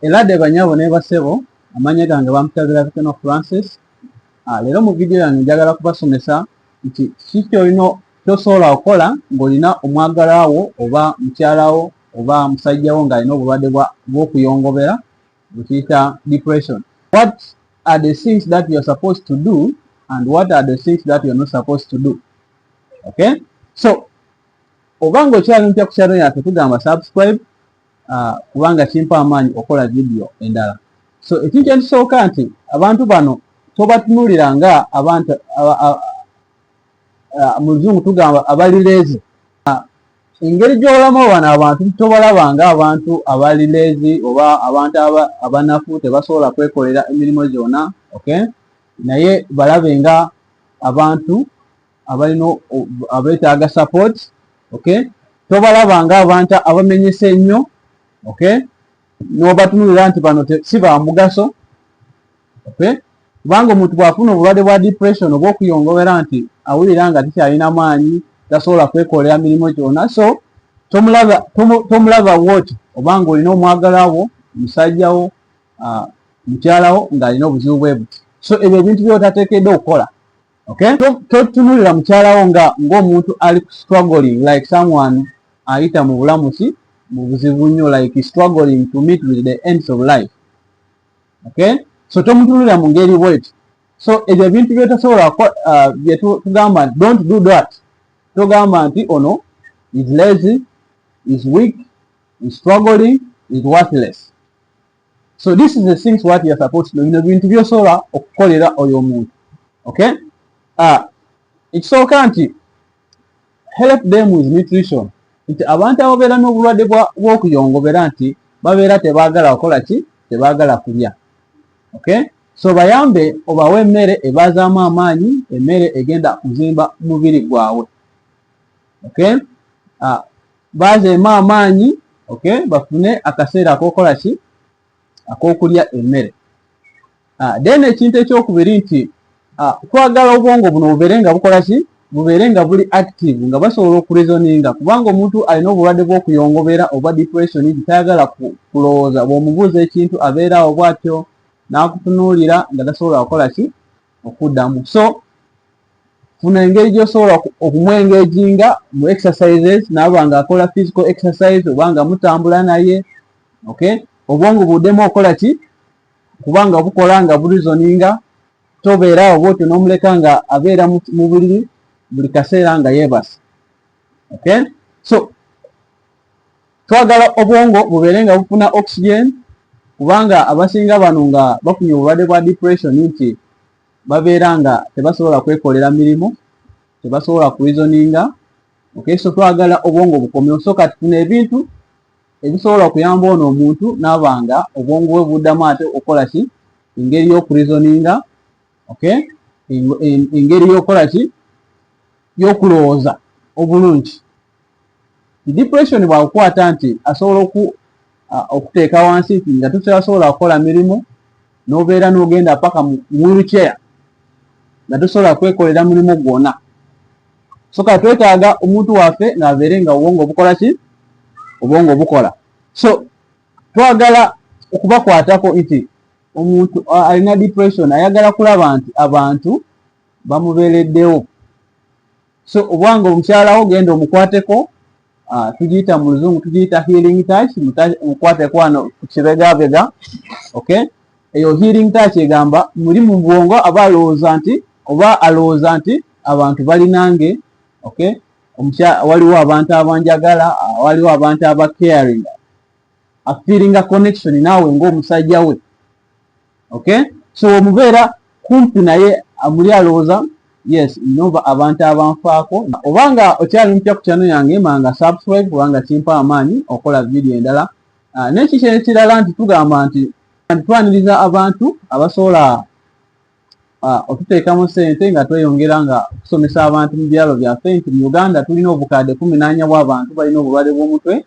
Elade banyabo ne basebo amanya gange bamutabira Bikeno Francis ah, leero mu vidiyo yange njagala kubasomesa nti kiki kyolina kyosobola okukola ng'olina omwagalawo oba mukyalawo oba musajjawo ng'alina obulwadde bw'okuyongobera bwekiyita depression what are the things that youare supposed to do and what are the things that youare not supposed to do okay so oba ng'okyali mpya ku kyalo yaffe tugamba subscribe ah, kubanga kimpa amaanyi okola vidiyo endala so ekintu ekisooka nti abantu bano tobatunulira nga abantu ah, mu luzungu tugamba abalireezi ah, engeri gyolamu bano abantu tobalaba nga abantu abalireezi oba abantu abanafu tebasobola kwekolera emirimu gyona okay naye balabe nga abantu abalina abeetaaga support okay tobalaba nga abantu abamenyese ennyo okay n'obatunulira nti bano si ba mugaso okay kubanga omuntu bw'afuna obulwadde bwa depression oba okuyongobera nti awulira nga tikyalina maanyi tasobola kwekolera mirimu gyona so tomulaba woti obanga olina omwagala wo musajja wo mukyala wo ng'alina obuzibu bwe buti so ebyo ebintu byotateekedde okukola okay totunulira mukyalawo nga ng'omuntu ali ku struggling like someone ayita mu bulamusi mu buzibu nnyo like struggling to meet with the ends of life okay so tomutunulira mu ngeri bweti so ebyo ebintu byetasobola uh, byetugamba nti don't do that togamba nti ono is lazy is weak is struggling is worthless so this is the things what you're supposed to know bino bintu byosobola okukolera oyo omuntu okay ah, ekisooka nti help them with nutrition nti abantu ababeera n'obulwadde bw'okuyongobera nti babeera tebaagala kukola ki tebaagala kulya okay so bayambe obawe emmere ebazaamu amaanyi emmere egenda kuzimba mubiri gwabwe okay ah, bazeemu amaanyi okay bafune akaseera akokola ki akokulya emmere ah, then ekintu ekyokubiri nti ah, twagala obwongo buno bubeere nga bukola ki bubeere nga buli active nga basobola okurezoninga kubanga omuntu alina obulwadde bwokuyongobeera oba depression nti tayagala kulowooza bwomubuuza ekintu abeera awo bwatyo n'akutunuulira nga tasobola kukola ki okuddamu so funa engeri gyosobola okumwengejinga mu exercises naaba nga akola physical exercise oba nga mutambula naye ok obwongo buddemu okola ki kubanga bukola nga burizoninga tobeera awo bwotyo nomuleka nga abeera mu buliri buli kaseera nga yebasa ok so twagala obwongo bubeere nga bufuna oxygen kubanga abasinga bano nga bafunye obulwadde bwa depression nti babeera nga tebasobola kwekolera mirimu tebasobola kurizoninga okay so twagala obwongo bukomeo so kati tuna ebintu ebisobola okuyamba ono omuntu nabanga obwongo bwe buddamu ate okukola ki engeri y'okurizoninga okay engeri y'okukola ki y'okulowooza obulungi depression bwakukwata nti asobola oku okuteeka wansi nti nga tosobola kukola mirimu nobeera nogenda paka mu wheelchair nga tosobola kwekolera mulimu gwona soka twetaaga omuntu waffe ngaabeere nga obwongo obukola ki obwongo obukola so twagala okubakwatako nti omuntu alina depression ayagala kulaba nti abantu bamubeereddewo so obwange omukyalawo genda omukwateko ah, tugiyita mu luzungu tugiyita healing touch mukwateko wano kukibegabega ok eyo healing touch egamba muli mu bwongo aba alowooza nti oba alowooza nti abantu balinange ok waliwo abantu abanjagala ah, waliwo abantu aba caring afiringa connection naawe ngaomusajja we okay so omubeera kumpi naye amuli alowooza yes nova abantu abanfaako oba nga okyali mupya ku kyano yange manga subscribe kubanga kimpa amaanyi okola vidiyo endala ah, nekikyo ekirala nti tugamba nti twaniriza abantu abasobola ah, otuteekamu sente nga tweyongera nga okusomesa abantu mu byalo byaffe nti mu uganda tulina obukadde kumi nanya bwabantu balina obulwade bwomutwe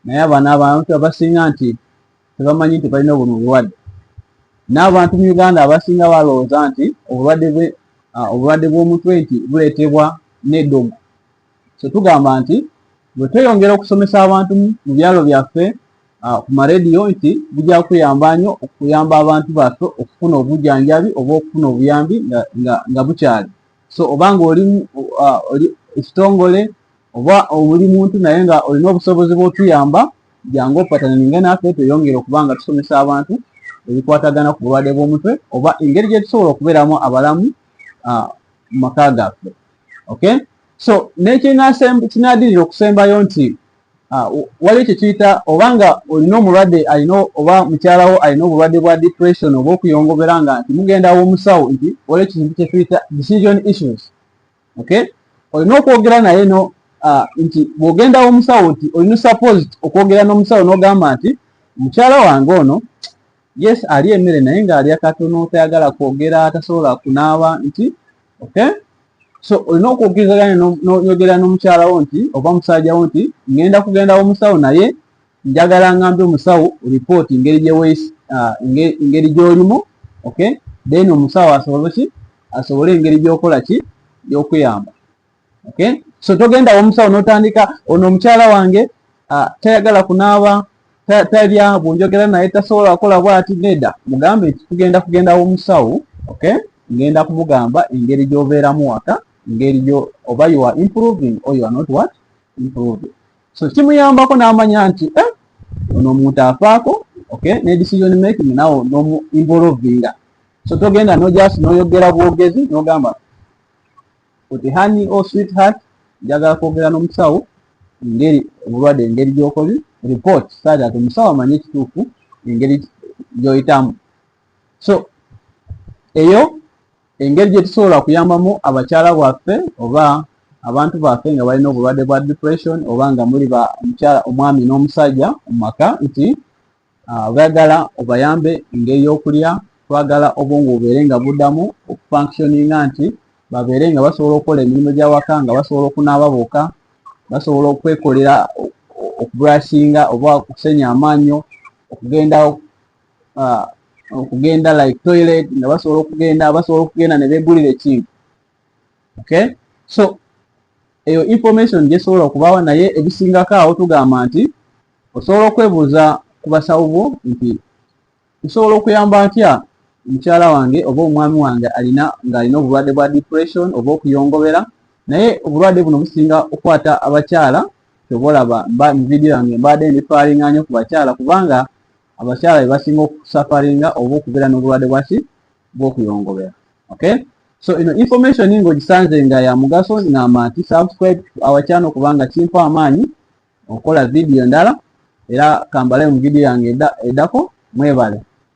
naye abana abantu abasinga nti tebamanyi nti balina buno obulwadde n'abantu mu uganda abasinga balowooza nti obulwadde bwe obulwadde bw'omutwe nti buleetebwa n'eddogo so tugamba nti bwe tweyongera okusomesa abantu mu byalo byaffe ku marediyo nti bujja kuyamba nnyo okuyamba abantu baffe okufuna obujjanjabi oba okufuna obuyambi nga bukyali so oba nga oli ekitongole oba oli muntu naye nga olina obusobozi bwotuyamba jangu opatananinge naffe tweyongere okuba nga tusomesa abantu ebikwatagana ku bulwadde bw'omutwe oba engeri gyetusobola okubeeramu abalamu mu maka gaffe okay so nekinadirira okusembayo nti Ah, waliwo kyekiyita oba nga olina omulwadde alina oba mukyalawo alina obulwadde bwa depression oba okuyongobera nga nti mugenda womusawo nti waliwo kintu kyetuyita decision issues okay olina okwogera naye no ah, nti bwogenda womusawo nti olina suppose okwogera nomusawo nogamba nti mukyala wange ono yes alya emmere naye nga alya katono tayagala kwogera tasobola kunaaba nti okay so olina okwogerezagana noyogera nomukyalawo nti oba musajjawo nti ngenda kugendawo musawo naye njagala ngambe omusawo report ngeri gyewes uh, ngeri gyolimu okay then omusawo asobole ki asobole engeri gyokola ki yokweyamba okay? so togenda womusawo notandika ono omukyala wange uh, tayagala kunaaba talya bwonjogera naye tasobola akola bwati neda mugambe nti tugenda kugenda womusawo okay? ngenda kumugamba engeri gyobeeramu waka engeri gyo oba you are improving or you are not what improving so kimuyambako n'amanya nti eh, ono omuntu afaako okay ne decision making nawo nomu involvinga so togenda no just noyogera bwogezi nogamba Oti hani o oh sweetheart njagala kwogera n'omusawo engeri obulwadde engeri gy'okobi report saati ati omusawo amanye ekituufu engeri gy'oyitamu so eyo engeri gye tusobola kuyambamu abakyala bwaffe oba abantu baffe nga balina obulwadde bwa depression oba nga muli ba omukyala omwami n'omusajja mu maka nti ah, bagala obayambe engeri y'okulya twagala obwongo bubeere nga buddamu okufunctioninga nti babeere nga basobola okukola emirimu gy'awaka nga basobola okunaaba boka basobola okwekolera okubrasinga oba okusenya amaanyo okugenda ah, okugenda like toilet nga basobola okugenda basobola okugenda ne beegulira ekintu okay so eyo information gyesobola okubaawa naye ebisingako awo tugamba nti Osobola okwebuuza ku basawo bo nti nsobola okuyamba ntya mukyala wange oba omwami wange alina ng'alina obulwadde bwa depression oba okuyongobera naye obulwadde buno businga okukwata abakyala kyova olaba mba mu vidiyo yange mbaadde ndifalinga nyo ku bakyala kubanga abakyala bebasinga okusafaringa oba okubeera n'obulwadde bwaki bw'okuyongobera okay so ino information ng'ogisanze nga ya mugaso ngamba nti subscribe to our channel kubanga kimpa amaanyi okukola vidiyo endala era kambale mu vidiyo yange edako mwebale